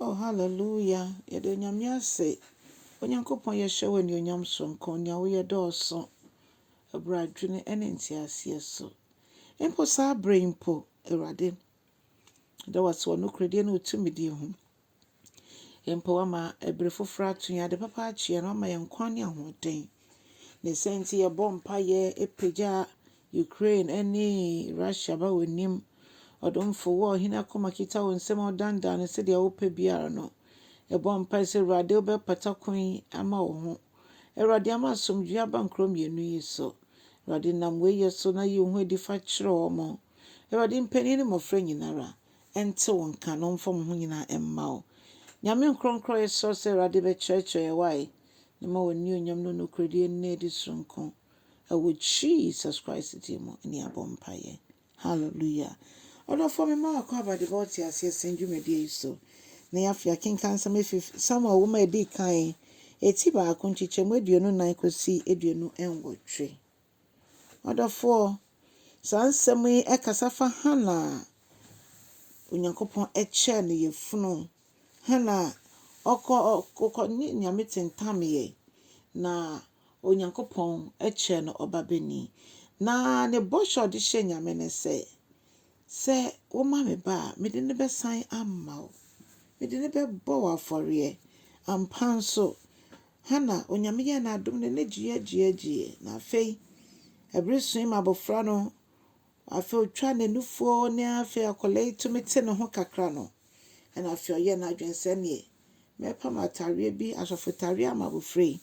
Oh hallelujah yɛda onyame ase Onyankopɔn yɛhyɛ wo anuonyam soronko nea woyɛ dɔɔso ɛberɛ adwene ɛne nteaseɛ so mpo saa berɛ yi mpo Awurade da wase wɔ nokorɛdie ne wo tumidie ho mpo wama ɛbere foforɔ ato yɛn ade papa akyeɛ na wama yɛn nkwa ne ahoɔden Ne saa nti, yɛbɔ mpaeɛ pagya Ukraine ne Russia ba w'anim. Ɔdomfo, wo a ɔhene akoma kita wo nsam a wodanedane no sɛdeɛ wopɛ biara no, yɛbɔ mpaeɛ sɛ Awurade wobɛpata kwan yi ama wo ho. Awurade, ama asomdwoeɛ aba nkuro mmienu yi so. Awurade, nam wei yɛ so na yi wo ho adi fa kyerɛ wɔn. Awurade, mpanin ne mmɔfra nyina ara nte wo nka na wɔmfa wɔn ho nyina ara mma wo. Nyame nkorɔnkorɔyɛ srɛ wo sɛ Awurade bɛkyerɛkyerɛ yɛn wae. na ma w'anuonyam ne wo nokorɛdie nna adi sononko wɔ Jesus Christ din mu ne yɛabɔ mpaeɛ. Hallelujah. Ɔdɔfoɔ mema wo akwaaba de bɛ wo te aseɛ sɛn dwumadie yi so. Na yɛ afei akenka nsɛm efi Samuel woma edi kan, eti baako nkyekyɛmu aduonu nan kɔsi aduonu nwɔtwe. M'adɔfoɔ, saa nsɛm yi kasa fa Hana a Onyankopɔn kyɛɛ no yafunu. Hana a ɔkɔ ɔkɔ ne Nyame tentameɛ na Onyankopɔn kyɛɛ no ɔbabanin. Na ne bɔhyɛ a ɔde hyɛɛ Nyame ne sɛ, sɛ woma me ba a, mede no bɛsan ama wo. Mede no bɛbɔ wo afɔreɛ. Ampa nso, Hana, Onyame yɛɛ no adom na n'ani gyeeɛgyeeɛgyeeɛ, na afei ɛbere soe ma abɔfra no, afei ɔtwaa n'anufoɔ ne afei akwadaa yi tumi te ne ho kakra no, ɛna afei ɔyɛɛ n'adwene sɛ neɛ mɛpam ataareɛ bi, asɔfo taareɛ ama abɔfra yi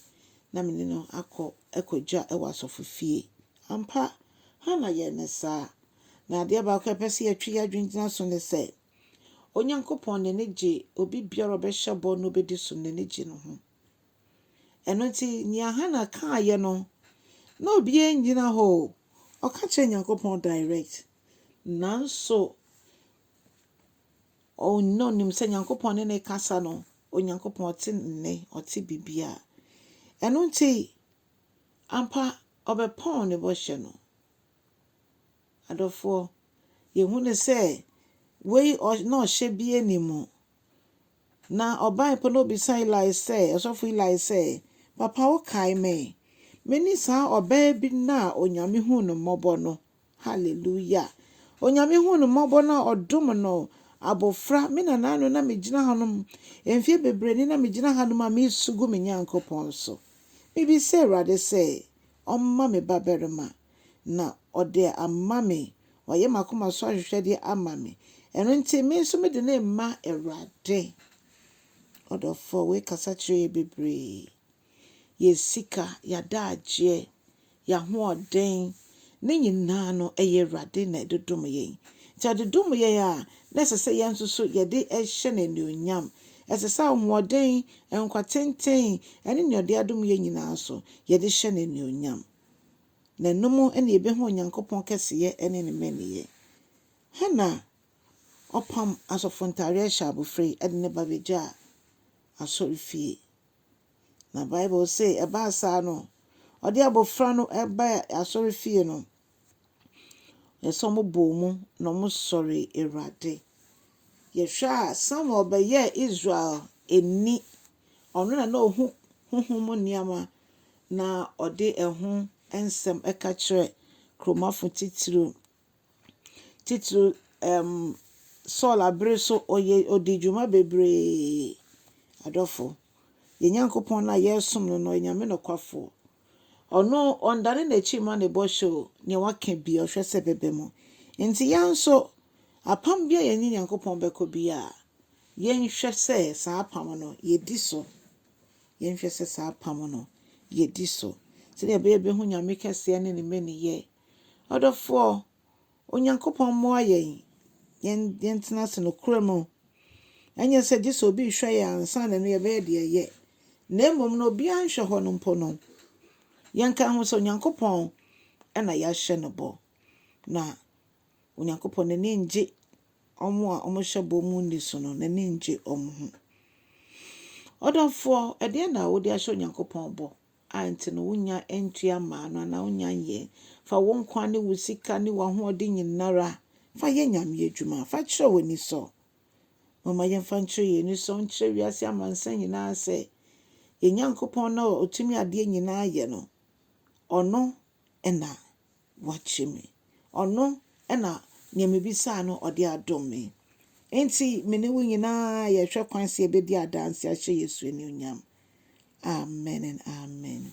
na mene no akɔ akɔgya wɔ asɔfo fie. Ampa, Hana yɛɛ ne saa. Na adeɛ baako a ɛpɛ sɛ yɛtwe yɛn adwene gyina so ne sɛ, Onyankopɔn n'ani gye obi biara a ɔbɛhyɛ bɔ na obedi so no n'ani gye no ho. Ɛno nti, nea Hana kaeɛ no, na obiara nnyina hɔ o. Ɔka kyerɛɛ Nyankopɔn direct. Nanso, ɔno nim sɛ Nyankopɔn ne ne kasa no, Onyankopɔn ɔte nne, ɔte biribiara. Ɛno nti, ampa ɔbɛpɔn ne bɔhyɛ no. Adɔfoɔ, yɛhu no sɛ wei ɔ na ɔhyɛ bie ne mu. Na ɔbae pɛ na ɔbisa Eli sɛ, ɔsɔfo Eli sɛ, Papa wokae me? Me ne saa ɔbaa bi no a Onyame huu no mmɔbɔ no. Hallelujah! Onyame huu no mmɔbɔ na ɔdom no abofra. Me nanaa no na me gyina hanom, mfeɛ bebree ni na me gyina hanom a meresu gu me Nyankopɔn so. Mebisa Awurade sɛ ɔmma me babarima. na ɔde ama me, wayɛ m'akoma so ahwehwɛdeɛ ama me, ɛno nti me nso mede no rema Awurade. Ɔdɔfoɔ, wei kasa kyerɛ yɛ bebree. Yɛ sika, yɛadagyeɛ, yɛahoɔden, ne nyinaa no ɛyɛ Awurade na ɛde dom yɛn. Nti ɔde dom yɛn a, na ɛsɛ sɛ yɛn nso so yɛde hyɛ no anuonyam. Ɛsɛ sɛ ahoɔden, nkwa tenten, ɛne nea ɔde adom yɛn nyinaa so, yɛde hyɛ no anuonyam. na ɛno mu na yɛbɛhu Onyankopɔn kɛseyɛ ne ne mmaninyɛ. Hana ɔpam asɔfo ntadeɛ hyɛ abofra yi de ne ba bɛgyaa asɔrefie. Na Bible se ɛbaa saa no, ɔde abofra no baa asɔrefie no, yɛ sɛ wɔbɔɔ mu na wɔsɔre Awurade. Yɛhwɛ a Samuel bɛyɛɛ Israel ani Ɔno na na ohu honhom mu nneɛma na ɔde ɛho nsɛm ka kyerɛ kuromafo titiriw. Titiriw, ɛɛm, Saul abere so ɔyɛ ɔdi dwuma bebree. Adɔfo, yɛn Nyankopɔn no a yɛresom no no, ɔyɛ Nyame nokwafoɔ. Ɔno, ɔndane n'akyi mma ne bɔhyɛ o, nea waka biaa, ɔhwɛ sɛ ɛbɛba mu. Enti yɛn nso, apam biaa a yɛne Nyankopɔn bɛkɔ biaa, yɛnhwɛ sɛ saa apam no, yɛdi so. Yɛnhwɛ sɛ saa apam no, yɛdi so. Sɛdeɛ ɛbɛyɛ yɛbɛhu Nyame kɛseɛ ne Ne mmaninyɛ. Ɔdɔfoɔ, Onyankopɔn mmoa yɛn yɛn yɛntena ase nokorɛ mu, ɛnyɛ sɛ gye sɛ obi rehwɛ yɛn ansa na ɛno yɛbɛyɛ deɛ ɛyɛ, na mmom no obiara nhwɛ hɔ no mpo no, yɛnka ho sɛ Onyankopɔn na yɛahyɛ no bɔ, na Onyankopɔn n'ani ngye wɔn a wɔhyɛ bɔ mu nni so no, n'ani ngye wɔn ho. Ɔdɔfoɔ, ɛdeɛn na wode ahyɛ Onyankopɔn bɔ? a nti no wonnya ntua mmaa no anaa wonnya nyɛ. Fa wo nkwa ne wo sika ne w'ahoɔden nyinara fa yɛ Nyame adwuma. Fa kyerɛ w'anisɔ. Momma yɛmfa nkyerɛ yɛn anisɔ nkyerɛ wiase amansan nyinaa sɛ, yɛn Nyankopɔn no a otumi adeɛ nyinaa yɛ no, ɔno na wakye me. Ɔno na nea mibisaa no ɔde adom me. Enti me ne wo nyinaa yɛhwɛ kwan sɛ yɛbɛdi adanse ahyɛ Yesu anuonyam. Amen and Amen.